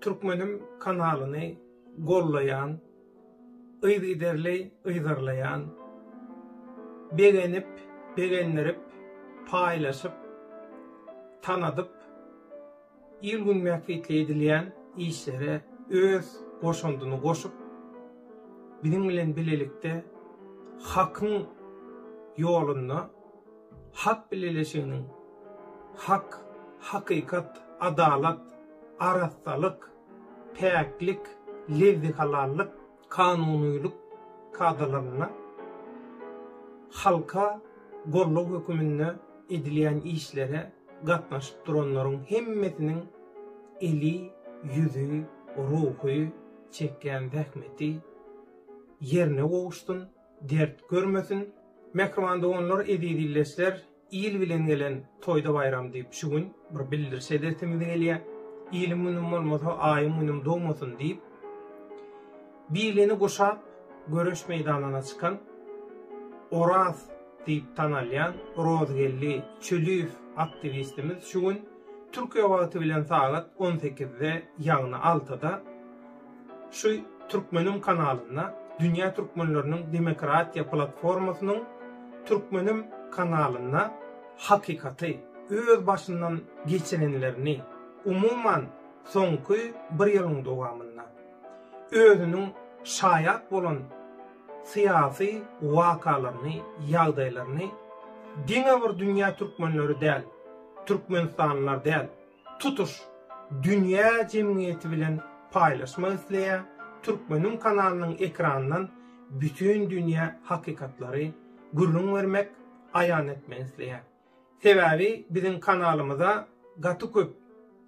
Türkmenim kanalyny gollaýan, yzygiderli yzarlaýan, begenip, begendirip, paýlaşyp, tanadyp, il-gün bähbitli edilýän işlere öz goşandyny goşup, biziň bilen bilelikde Hakyň ýolunda, Halk Bileleşiginiň hak, hakykat, adalat, arassalyk, päklik, lezzi-halallyk, kanunylyk kadalaryna, halka gollag höküminde edilýän işlere gatnaşyp duranlaryň hemmesiniň eli, ýüzi, ruhy çekýän zähmeti ýerine gowuşsyn! dert görmesin. Mähriban doganlar, eziz ildeşler, il bilen gelen toýda baýram diýip şu gün bir bildiriş edesimiz gelýär. Iliň günüm bolmasa, aýyň günüm dogmasyn diýip, bilini guşap, göreş meýdanyna çykan Oraz diýip tanalýan Rozgeldi Çöliýew aktiwistimiz şu gün Türkiýe wagty bilen sagat on sekizde, ýagny altyda, Şu Türkmenim kanalynda Dünýä Türkmenleriniň Demokratiýa Platformasynyň Türkmenim kanalynda hakykaty, öz başyndan geçirenlerini, umuman, soňky bir ýylyň dowamynda özüniň şaýat bolan syýasy wakalaryny, ýagdaýlaryny diňe bir dünýä türkmenleri däl, türkmenistanlylar däl, tutuş dünýä jemgyýeti bilen paýlaşmak isleýär, Türkmeniň kanalynyň ekranyndan bütin dünýä hakykatlary gürrüň bermek, aýan etmek isleýär. Sebäbi biziň kanalymyza gaty köp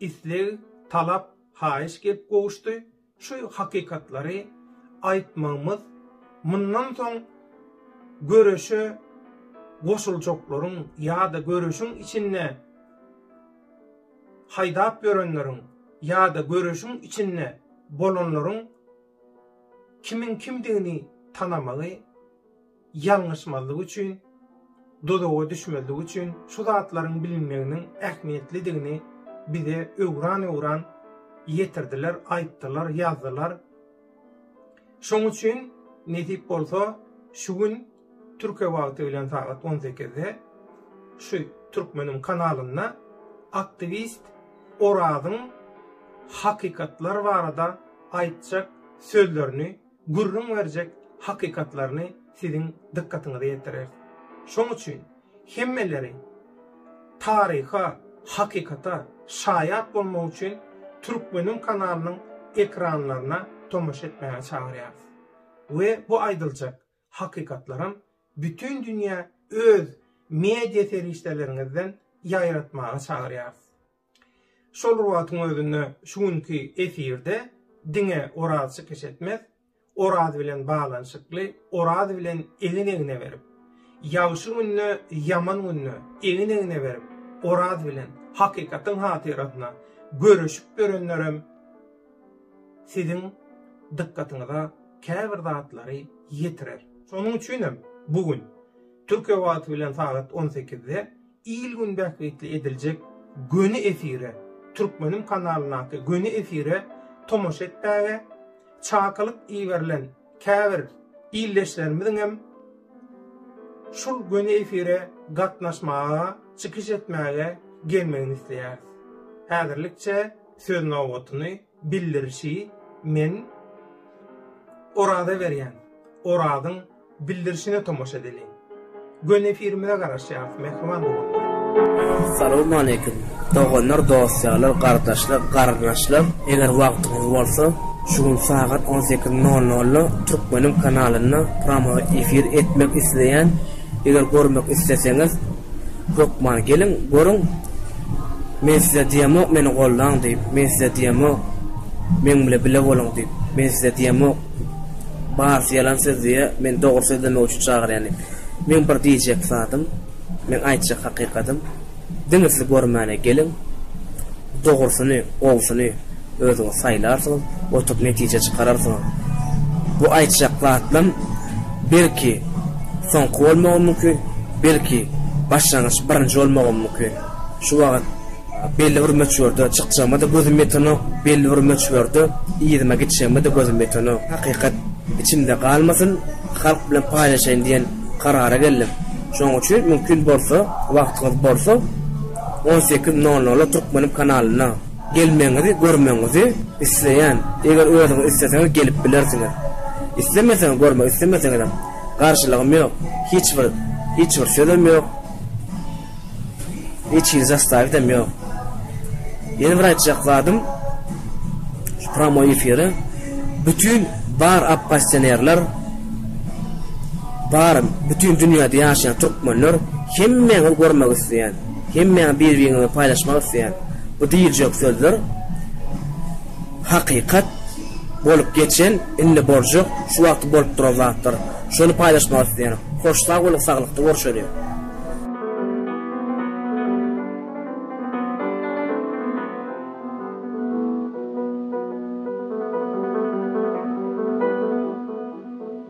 isleg, talap, haýyş gelip gowuşdy. Şu hakykatlary aýtmagymyz mundan soň göreşe goşuljaklaryň ýa-da göreşiň içinde haýdap ýörenleriň ýa-da göreşiň içinde bolanlaryň kimiň kimdigini tanamagy ýalňyşmazlyk üçin, dozaga düşmezlik üçin şu zatlaryň bilinmeginiň ähmiýetlidigini bize öwran-öwran ýetirdiler, aýtdylar, ýazdylar. Şoň üçin nesip bolsa, şu gün Türkiýe wagty bilen sagat on sekizde şu Türkmeniň kanalynda aktiwist Orazyň hakykatlar barada aýtjak sözlerini gürrüň berjek hakykatlaryny siziň dykgatyňyza ýetireris. Şoň üçin hemmeleri taryha, hakykata şaýat bolmak üçin Türkmeniň kanalynyň ekranlaryna tomaşa etmäge çagyrýarys. We bu aýdyljak hakykatlaram bütin dünýä öz media serişdeleriňizden ýaýratmaga çagyrýarys. Şol wagtyň özünde şu günki efirde diňe Oraz çykyş etmez, Oraz bilen baglanyşykly, Oraz bilen egin-egne berip, ýagşy günde, ýaman günde egin-egne berip, Oraz bilen hakykatyň hatyrasyna göreşip ýörenlerem siziň dykgatyňyza käbir zatlary ýetirer. Şonuň üçin hem bu gün, Türkiýe wagty bilen sagat on sekizde Il-gün bähbitli ediljek göni efire, Türkmenim kanalyndaky göni efire tomaşa etmäge, çakylyk iberilen käbir ildeşlerimiziň hem şul göni efire gatnaşmaga, çykyş etmäge gelmegini isleýäris. Häzirlikçe söz nobatyny Bildirişi Men oraza berýän orazyň bildirişine tomaşa edeliň. Göni efirimize garaşýarys mähriban doganlar. Salowmaleýkim doganlar dosýalar gardaşlar garynaşlar eger wagtyňyz bolsa şu gün sagat on sekiz nol nolda türkmeniň kanalynda pramoý efir etmek isleýän eger görmek isleseňiz Hökman geliň, görüň. Men size diýemok, meni goldaň diýip. Men size diýemok, meň bile bile boluň diýip. Men size diýemok, barysy ýalan söz diýýä, men dogry sözlemek üçin çagyrýan diýip. Meň bir diýjek zadym, meň aýtjak hakykadym, diňe siz görmäne geliň. Dogrusyny, gowusyny. Özüňiz saýlarsyňyz, oturyp netije çykararsyňyz. Bu aýtjak zatlam belki soňky bolmagy mümkin, belki başlangyç birinji bolmagam mümkin. Şu wagt belli bir möçberde çykjagyma-da gözüm ýetenok, belli bir möçberde yzyma gitjegime-de gözüm ýetenok. Hakykat içimde galmasyn, halk bilen paýlaşaýyn diýen karara geldim. Şonuň üçin mümkin bolsa, wagtyňyz bolsa, on sekiz nol nola Türkmenim kanalynda. Gelmegiňizi görmegiňizi isleýän. Eger özüňiz isleseňiz gelip bilersiňiz. Islemeseňiz görmek islemeseňizem garşylygym ýok. Hiç bir hiç bir sözem ýok. Hiç hili zastawitem ýok. Ýene bir aýtjak zadym şu pramoý efiri bütin bar oppozisionerler bar bütin dünýäde ýaşaýan türkmenler hemmäňiz görmek isleýän. Hemmäňi bir-biriňize paýlaşmak isleýän bu diýiljek sözler hakykat, bolup geçen, indi boljak, şu wagty bolup duran zatlar. Şony paýlaşmak isleýärin. Hoş sag boluň saglykda görşeliň.